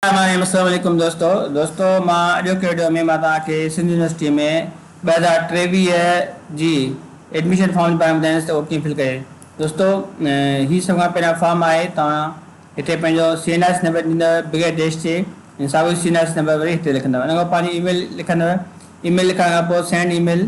رحمان الرحيم السلام عليڪم دوستو دوستو مان اڄوڪي وڊيو ۾ مان توهان کي سنڌ يونيورسٽي ۾ ٻه هزار ٽيويهه جي ايڊميشن فارم جي باري ۾ ٻڌائيندس ته اهو ڪيئن فل ڪجي دوستو هي سڀ کان پهريان فارم آهي توهان هتي پنهنجو C N R S number ڏيندو بغير ديش جي ۽ ساڳو C N R S number وري هتي لکندو ان کان پوء پنهنجي اي ميل لکندو اي ميل لکڻ کان پوء سينڊ اي ميل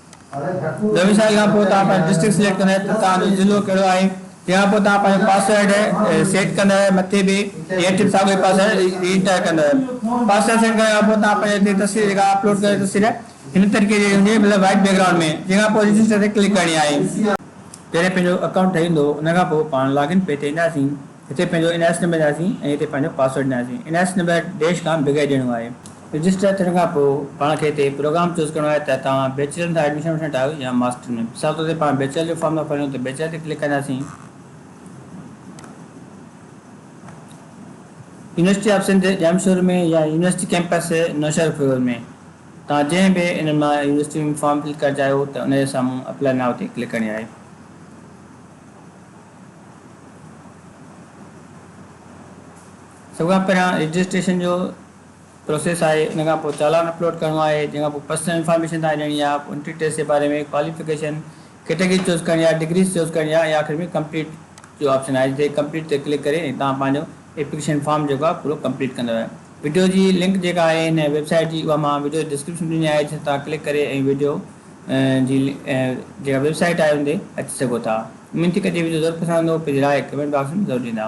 نوي سال کان پوء توهان پنهنجو ڊسٽرڪٽ سليڪٽ ڪندا ته توهان جو ضلعو ڪهڙو آهي تنهن کان پوء توهان پنهنجو پاسورڊ سيٽ ڪندا مٿي به هيٺ به ساڳيو ئي پاسورڊ ري انٽر ڪندا پاسورڊ سيٽ ڪرڻ کان پوء توهان پنهنجي هتي تصوير جيڪا اپلوڊ ڪيو تصوير هن طريقي جي هجي مطلب وائٽ بيڪ گرائونڊ ۾ جنهن کان پوء رجسٽر تي ڪلڪ ڪرڻي آهي. جڏهن پنهنجو اڪائونٽ ٺهي ويندو ان کان پوء پاڻ لاگ ان پيج تي اينداسين. هتي پنهنجو اين آء ايس نمبر ڏياسين ۽ هتي پنهنجو پاسورڊ ڏياسين N I S number dash کان بغير ڏيڻو آهي. رجسٽر ٿيڻ کان پوء پاڻ کي هتي پروگرام چوز ڪرڻو آهي ته توهان بيچلر ۾ ايڊميشن وٺڻ ٺاهيو يا ماسٽر ۾ مثال طور تي پاڻ بيچلر جو فارم ٿا ڀريون ته بيچلر تي ڪلڪ ڪنداسين يونيورسٽي آف سنڌ ڄامشوري ۾ يا يونيورسٽي ڪيمپس نوشهرو فيروز ۾ توهان جنهن به انهن مان يونيورسٽي ۾ فارم فل ڪرڻ چاهيو ته ان جي سامهون اپلائي نائو تي ڪلڪ ڪرڻي آهي. سڀ کان پهريان رجسٽريشن جو پروسيس آهي ان کان پوء چالان اپلوڊ ڪرڻو آهي جنهن کان پوء پرسنل انفارميشن توهان ڏيڻي آهي انٽري ٽيسٽ جي باري ۾ ڪواليفڪيشن ڪيٽيگري چوز ڪرڻي آهي ڊگريز چوز ڪرڻي آهي ۽ آخر ۾ ڪمپليٽ جو آپشن آهي جتي ڪمپليٽ تي ڪلڪ ڪري توهان پنهنجو ايپليڪيشن فارم جيڪو آهي پورو ڪمپليٽ ڪندو آهي وڊيو جي لنڪ جيڪا آهي هن ويب سائيٽ جي اها مان وڊيو جي ڊسڪرپشن ڏني آهي جتي توهان ڪلڪ ڪري ۽ وڊيو جي جيڪا ويب سائيٽ آهي ان تي اچي سگهو ٿا اميد ٿي ڪجي وڊيو ضرور پسند ايندو پنهنجي راء ڪمينٽ باڪس ۾ ضرور ڏيندا.